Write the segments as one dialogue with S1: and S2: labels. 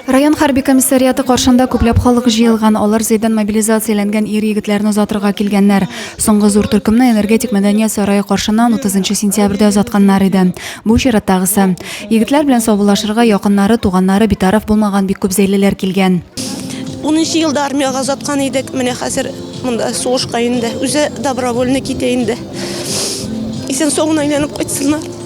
S1: Район хәрби комиссариаты каршында күпләп халык җыелган. Алар Зәйдән мобилизацияләнгән ир-егетләрне озатырга килгәннәр. Соңгы зур төркемне Энергетик мәдәният сарае каршыннан 30 сентябрьдә озатканнар иде. Бу чираттагысы. Егетләр белән саубуллашырга якыннары, туганнары, битараф булмаган бик күп зәйлеләр килгән. Унынчы
S2: елда армиягә озаткан идек, менә хәзер монда сугышка инде. Үзе добровольный китә инде. Исән-сау гына әйләнеп кайтсыннар.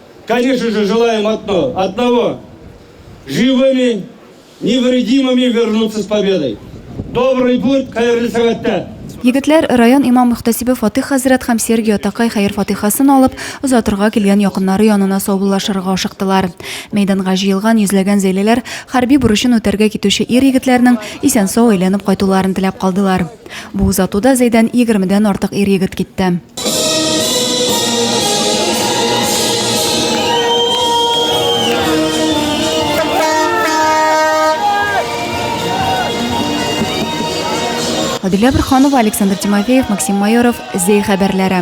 S3: Конечно же, желаем одно, одного, живыми, невредимыми вернуться с победой. Добрый путь, хәерле сәгатьтә! Егетләр, район
S1: имам-мөхтәсибе Фатыйх хәзрәт һәм Сергий атакай хәер-фатыйхасын алып, озатырга килгән якыннары янына саубуллашырга ашыктылар. Мәйданга җыелган йөзләгән зәйлеләр хәрби бурычын үтәргә китүче ир-егетләрнең исән-сау әйләнеп кайтуларын теләп калдылар. Бу озатуда Зәйдән егермедән артык ир-егет китте. Адилә Бөрханова, Александр Тимофеев, Максим Майоров, Зәй хәбәрләре.